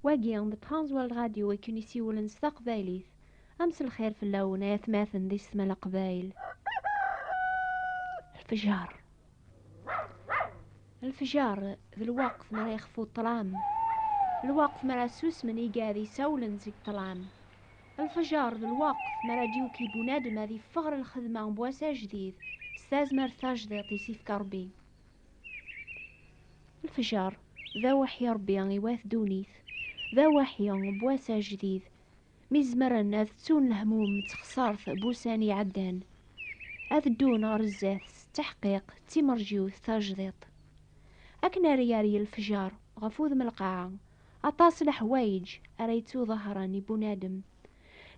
Wagi d Transworld Radio i ken-isiwlen s taqbaylit. A mselxir fell-awen ay atmaten di Setma Leqbayel. Lfejer. Lfejer d lweqt mi ara yexfu ṭṭlam. Lweqt mi ara susmen igad isawlen seg ṭṭlam. Lfejer d lweqt mi ara d-yuki bunadem ad yeffeɣ ɣer lxedma n wass ajdid s tazmert tajdiṭ i s-yefka Rebbi. Lefjer, d aweḥyi Ṛebbi i wat ddunit, d aweḥyi n wass ajdid, mi zemren ad ttun lehmum d texṣaṛt n wussan iɛeddan, ad ddun ɣer zdat s ttaḥqiq d timerjiwt tajdiṭ. Akken ara yerr lefjer ɣef udem lqaɛa, aṭas leḥwayeǧ ara yettuḍahṛen i bunadem,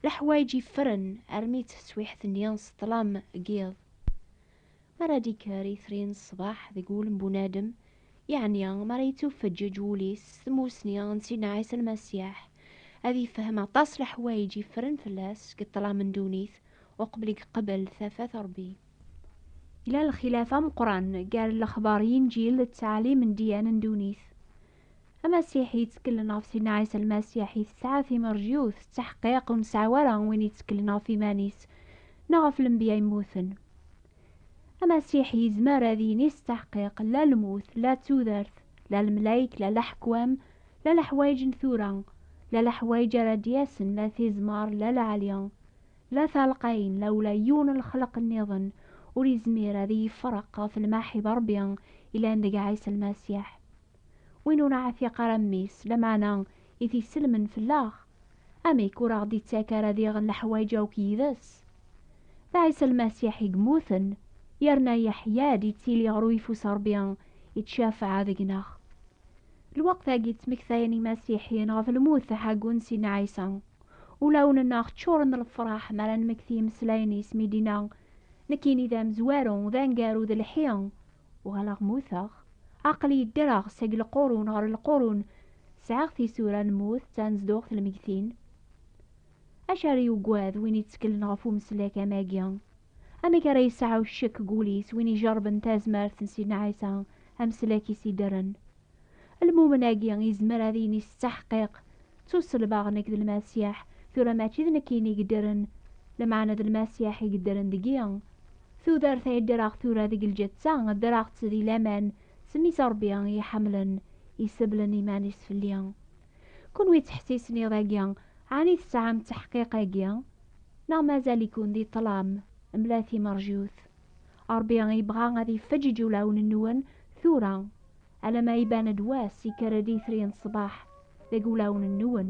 leḥwayeǧ yeffren armi d taswiḥt-nni s ṭṭlam n yiḍ. Mi ara d-ikker itri n ṣṣbeḥ deg wul n bunadem, yeɛni mi ara yettufeǧǧeǧ wul-is s tmussni n Sidna Ɛisa Lmasiḥ, ad yefhem aṭas n leḥwayeǧ yeffren fell-as deg ṭṭlam n ddunit uqbel i yeqbel tafat n Ṛebbi. Yella lxilaf ameqqran gar lexbar n Yinǧil d ttɛalim n ddiyana n ddunit. Amasiḥi yettkellen ɣef Sidna Ɛisa Lmasiḥ i tesɛa timerjyut, tettaḥqiq ur nesɛa wara win yettkellen ɣef iman-is neɣ ɣef lenbiya yemmuten. Amasiḥi yezmer ad yini s ttaḥqiq la lmut, la tudert, la lemlayek, la leḥkwam, la leḥwayeǧ n tura, la leḥwayeǧ ara d-yasen, la tizmar, la leɛli. La talqayin, la ula yiwen n lexleq nniḍen ur izmir ad iyi-ifreq ɣef lmaḥi d Rebbi yellan deg Ɛisa Lmasiḥ. Win ur neɛtiq ara mmi-s, lameɛna i t-isellmen fell-aɣ, amek ur aɣ-d-ittak ara diɣen leḥwayeǧ akk yid-s? D Ɛisa Lmasiḥ i yemmuten, yerna yeḥya-d, yettili ɣer uyeffus Rebbi, yettcafeɛ deg-neɣ. Lweqt-agi ttmektayen Imasiḥiyen ɣef lmut taḥagunt n Sidna Ɛisa. Ulawen-nneɣ ččuren d lefraḥ mi ara nmekti imeslayen-is mi d-inna, Nekkini d amezwaru, d aneggaru, d lḥi. Uɣaleɣ mmuteɣ. Aql-iyi ddreɣ seg lqurun ɣer lqurun, sɛiɣ tisura n lmut d tanezduɣt n lmegtin. Acu ara yuggad win yetteklen ɣef umeslek am wagi? Amek ara yesɛu ccek deg wul-is win ijerben tazmert n Sidna Ɛisa ameslak-is iddren? Lmumen-agi yezmer ad yini s ttaḥqiq, Ttuselbeɣ nekk d Lmasiḥ, tura mačči d nekkini i yeddren, lmeɛna d Lmasiḥ i yeddren deg-i. Tudert ay ddreɣ tura deg lǧetta, ddreɣ-tt di laman s mmi-s Rebbi i iyi-iḥemmlen, iseblen iman-is fell-i. Kunwi ttḥessisen iḍ-agi, ɛni tesɛam ttaḥqiq-agi? Neɣ mazal-iken di ṭṭlam mla timerjut? Ṛebbi ibɣa ad ifeǧǧeǧ ulawen-nwen tura, alamma iban-d wass, ikker-d itri n ṣṣbeḥ deg wulawen-nwen.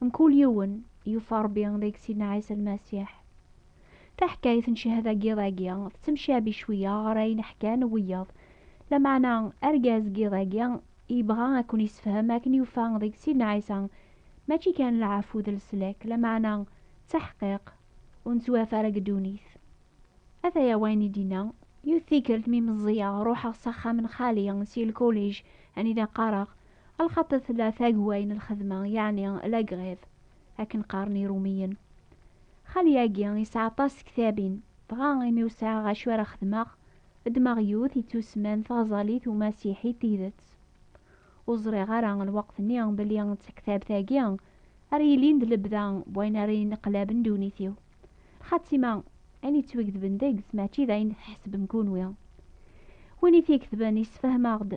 Mkul yiwen yufa Ṛebbi deg Sidna Ɛisa Lmasiḥ. Taḥkayt n cchada n yiḍ-agi tettemcabi cwiya ɣer ayen ḥkan wiyaḍ, lameɛna argaz n yiḍ-agi yebɣa ad ken-yessefhem akken yufa deg Sidna Ɛisa mačči kan lɛafu d leslak, lameɛna d taḥqiq ur nettwaaf ara deg ddunit. Ataya wayen i d-yenna. Yiwet tikkelt mi meẓẓiyeɣ, ruḥeɣ s axxam n xali si lkulij anida qqareɣ. Lxaṭi tella tagway n lxedma, yeɛni la grève, akken qqaren Irumiyen. Xali-agi yesɛa aṭas tektabin, dɣa imi ur sɛiɣ acu ara xedmeɣ, ddmeɣ yiwet yettusemman Taɣẓalit Umasiḥi Tidet. Ur ẓriɣ ara lweqt-nni belli d taktabt-agi ara yilin d lebda n wayen ara yenneqlaben ddunit-iw. Xatima, ayen yettwagedben deg-s mačči d ayen tḥesbem kunwi. Win i t-iketben yessefhem-aɣ-d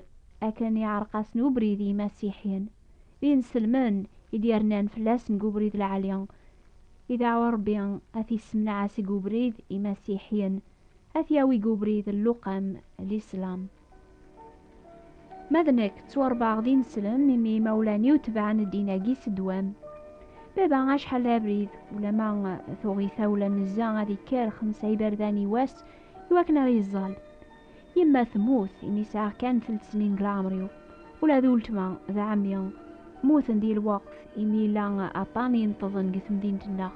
akken iɛreq-asen ubrid i yimasiḥiyen, d inselmen i d-yernan fell-asen deg ubrid lɛali, i dɛwa Rebbi ad t-yessemneɛ seg ubrid imasiḥiyen, ad t-yawi deg ubrid n luqam, Lislam. Ma d nekk ttwaṛebbaɣ d ineslem imi imawlan-iw tebɛen ddin-agi s ddwam. Baba acḥal d abrid, ulama tuɣ-it-a ulamezza ad ikker xemsa iberdan i wass i wakken ara yeẓẓal. Yemma temmut imi sɛiɣ kan telt snin n leɛmer-iw. Ula d uletma d ɛemmi mmuten di lweqt imi yella aṭan ineṭṭḍen deg temdint-nneɣ.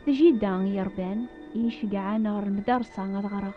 D jidda i yi-iṛebban, i yi-iceggɛen ɣer lmedarsa ad ɣreɣ.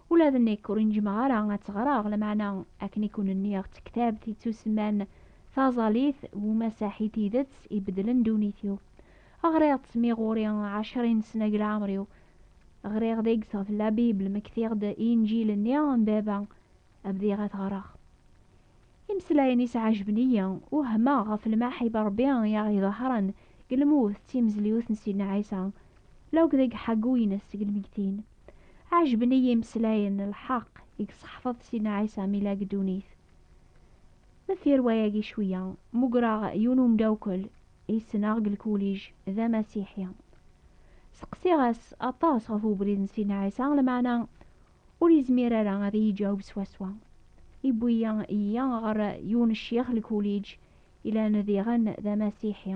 Ula d nekk ur inǧmeɣ ara ad tt-ɣreɣ, lameɛna akken i ken-nniɣ ţektabt iţţusemman Taẓalit Umasaḥ i tidett ibeddlen ddunit-iw. Ɣriɣ-ţ mi ɣur-i ɛecrin sna g leɛmer-iw. Ɣriɣ deg-s ɣef La Bible, mektiɣ-d Inǧil-nni n Baba, bdiɣ a t-ɣreɣ. Imeslayen-is ɛejben-iyi, wehmeɣ ɣef lmaḥib n Ṛebbi i aɣ-iḍehren g lmut d timezliwt n Sidna Ɛisa, la akk deg ḥaggu-ines seg lmeggtin. Ɛejben-iyi imeslayen n lḥeq i yesseḥfaḍ Sidna Ɛisa mi yella deg ddunit. Deffir wayagi cwiya, mmugreɣ yiwen umeddakel i ssneɣ deg lkulij, d amasiḥi. Seqsiɣ-as aṭas ɣef ubrid n Sidna Ɛisa, lameɛna ur yezmir ara ad iyi-iǧaweb swaswa. Yewwi-iyi ɣer yiwen n ccix n lkulij yellan diɣen d amasiḥi.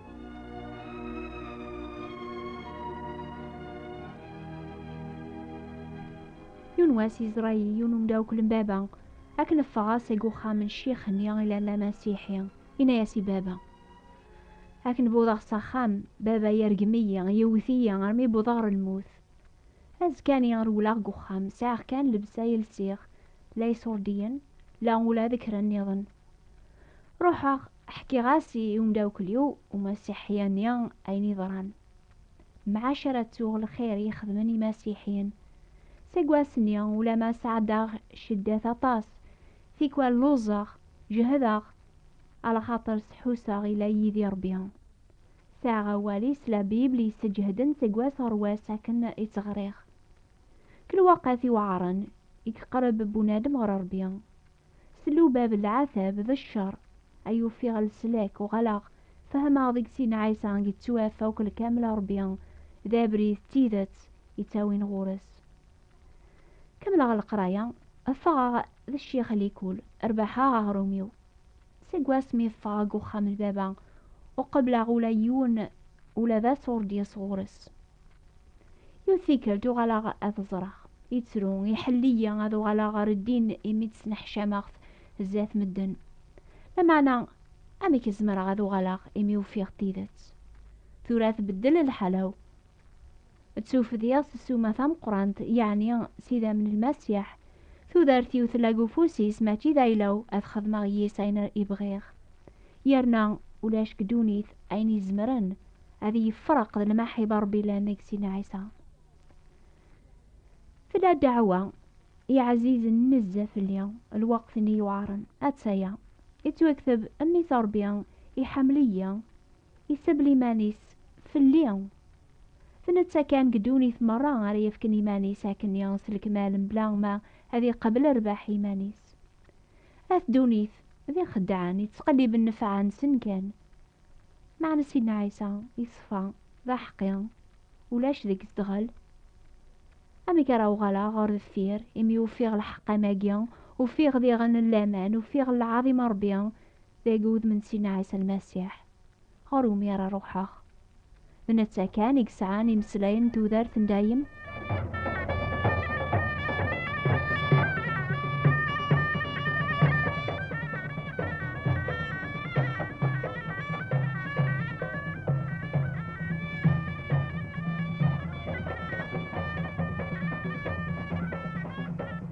yiwen wass yeẓra-yi yiwen umdawkel n baba akken ffɣeɣ seg uxxam n ccix-nni i llan d amasiḥi yenna-as i baba akken buḍeɣ s axxam baba yergem-iyi yewwet-iyi armi buḍeɣ ɣer lmut azekka-nni rewleɣ deg uxxam sɛiɣ kan lebsa i lsiɣ la isurdiyen, la ula d kra nniḍen. Ruḥeɣ ḥkiɣ-as i umdawkel-iw umasiḥi-anni ayen yeḍran. Mɛac ara ttuɣ lxir yexedmen imasiḥiyen. Seg wass-nni ulamma sɛeddaɣ cceddat aṭas, tikwal luẓeɣ, jehdeɣ, alaxaṭer sḥuseɣ ila yid-i Rebbi. Sɛiɣ awal-is la Bible yesseǧehden seg wass ɣer wass akken i tt-ɣriɣ. Kra lweqt iweɛren i yeqreb bunadem ɣer Ṛebbi, s lubab n lɛatab d cceṛ, ay ufiɣ leslak, uɣaleɣ fehmeɣ deg sin Ɛisa yettwaf akk lkamel a Ṛebbi, d abrid d tidet yettawin ɣur-s. Kemmleɣ leqraya, ffɣeɣ d ccix Likul, rbaḥeɣ aɣrum-iw. seg wasmi i ffɣeɣ deg uxxam n baba, ur qebbleɣ ula yiwen ula d ass ur d-yas ɣur-s. Yiwet tikkelt uɣaleɣ ad ẓreɣ. Yettru, iḥell-iyi ad uɣaleɣ ɣer ddin imi ttneḥcameɣ-t zdat medden. Lameɛna amek i zemreɣ ad uɣaleɣ imi ufiɣ tidet? Tura tbeddel lḥala-w. D tufdiɣ s ssuma tameqqrant, yeɛni s idammen n Lmasiḥ. Tudert-iw tella deg ufus-is, mačči d ayla-w, ad xedmeɣ yis ayen i bɣiɣ. Yerna ulac deg ddunit ayen izemren ad iyi-yefreq d lmaḥiba n Rebbi yellan deg-s i Ɛisa. Tella ddeɛwa i ɛzizen nezzeh fell-i, lweqt-nni yuɛren, atta-ya. Yettwakteb, Mmi-s a Rebbi, iḥemmel-iyi. Isabel iman-is fell-i. D netta kan deg ddunit merra ara yefken iman-is akkenni s lekmal mebla ma ad iqabel rrbeḥ i iman-is. At ddunit d ixeddɛen yettqelliben nnfeɛ-nsen kan. Meɛna Sidna Ɛisa yeṣfa, d aḥeqqi, ulac deg zedɣel. Amek ara uɣaleɣ ɣer deffir, imi ufiɣ lḥeqq am-agi, ufiɣ diɣen laman, ufiɣ lɛaḍima n Rebbi dagi udem n Sina Ɛisa Lmasiḥ, ɣer umi ara ruḥeɣ. D netta kan i yesɛan imeslayen n tudert n dayem.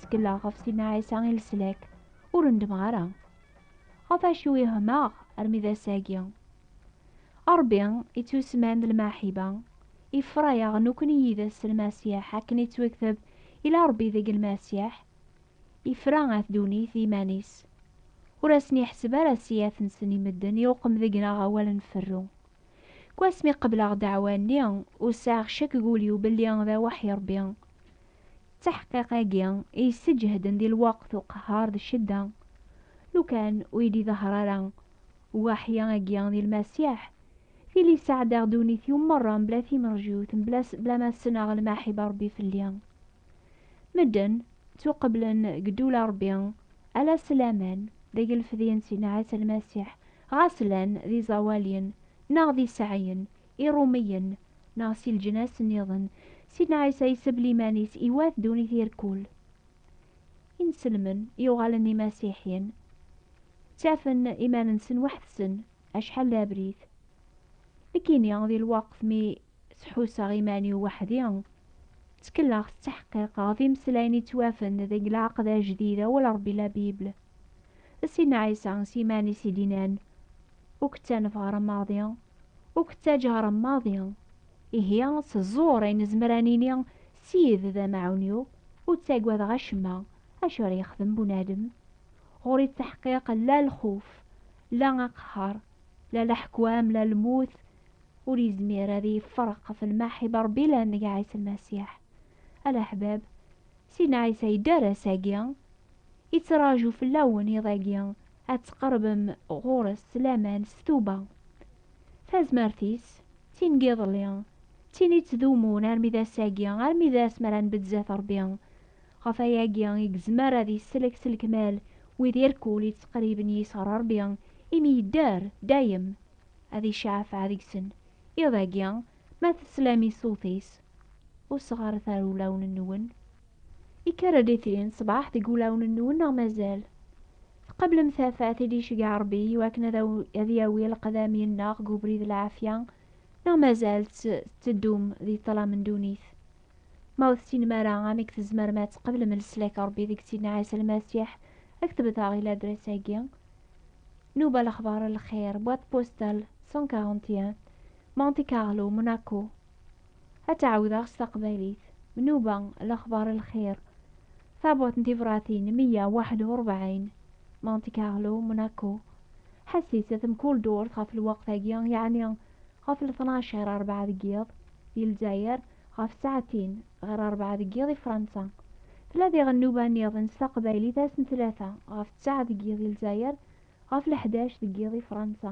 Ttekleɣ ɣef Sidna Ɛisa i leslak, ur ndmeɣ ara. Ɣef acu i hmaɣ armi d ass-agi? Ṛebbi ittusman d lmaḥiba, ifra-yaɣ nekkni yid-s s Lmasiḥ akken ittwekteb ila Ṛebbi deg Lmasiḥ, ifra at ddunit d iman-is. Ur asen-iḥseb ara ssiyat-nsen i medden iṛuqem deg-neɣ awal nferru. Seg wasmi qebleɣ ddeɛwa-nni, ur sɛiɣ ccek deg wul-iw belli d awaḥi Ṛebbi. d taḥqiq-agi i yesseǧehden di lweqt uqehhar d ccedda. Lukan ur yi-d-iḍehher ara Waḥi-agi di Lmasiḥ, tili sɛeddaɣ ddunit-iw merra mebla timerjut, mebla bla ma ssneɣ lmaḥiba Rebbi fell-i. Medden ttuqeblen deg ddula Rebbi ala s laman deg lefdi n Sidna Ɛisa Lmasiḥ, ɣas llan d iẓawaliyen neɣ d iseɛɛiyen, Iṛumiyen, neɣ si leǧnas nniḍen, Sidna Ɛisa iseb liman-is i wat ddunit yir kul. Inselmen yuɣalen d imasiḥyen, ttafen iman-nsen weḥd-sen acḥal d abrid. Nekkini, di lweqt mi ţḥusseɣ iman-iw weḥd-i, ţkelleɣ s ţeḥqiq ɣef imeslayen i ţwafen deg Lɛeqd Ajdid, Awal Ṛebbi, La Bible. D Sidna Ɛisa s yiman-is i d-inan, Ur k-ţanef ɣer ameṛdi. Ur k-ttaǧǧaɣ maḍi. Ihi, s ẓẓur ay nezmer ad nini Ssid d amaɛun-iw, ur ttagadeɣ acemma. Acu ara yexdem bunadem? Ɣur-i ttaḥqiq la lxuf, la aqehher, la leḥkwam, la lmut, ur yezmir ad iyi-yefferq ɣef lmaḥib n Rebbi la nnig Ɛisa Lmasiḥ. A leḥbab, Sina Ɛisa yedder ass-agi, yettraǧu fell-awen iḍ-agi ad tqerbem ɣur-s s laman s tuba. Tazmert-is, d tin n yiḍelli, d tin yettdumun armi d ass-agi, armi d ass mi ara nbedd zdat Rebbi. Ɣef wayagi i yezmer ad isellek s lekmal wid irkul yettqerriben yis ɣer Rebbi, imi yedder dayem ad iceɛfeɛ deg-sen. Iḍ-agi, ma teslam i ṣṣut-is, Ur sɣaret ara ulawen-nwen. Ikker-d itri n ṣṣbeḥ deg wulawen-nwen neɣ mazal? Tqablem tafat i d-iceggeɛ Rebbi i wakken ad aw- ad yawi leqdam yenneɣ deg ubrid lɛafya neɣ mazal tt- tetteddum di ṭṭlam n ddunit? Ma ur tessinem ara amek tzemrem ad tqablem leslak n Rebbi deg Sidna Ɛisa Lmasiḥ, ad ketbeḍ-aɣ i ladres-agi. Nuba Lexbar n Lxir, boîte postale 141, Monte Carlo, Monaco. Ad tt-ɛawdeɣ s taqbaylit. Nnuba, lexbar, lxir. Taburt n tebṛatin meyya waḥed u ṛebɛin, Monte Carlo, Monaco. Ḥesset-t mkul durt ɣef lweqt-agi, yeɛni ɣef lṭnac ɣir ṛebɛa deg yiḍ di Lezzayer, ɣef ssaɛtin ɣir ṛebɛa deg yiḍ di Fṛansa. Tella diɣen nnuba niḍen s taqbaylit ass n tlata ɣef ţţaɛ deg yiḍ di Lezzayer, ɣef leḥdac deg yiḍ di Fṛansa.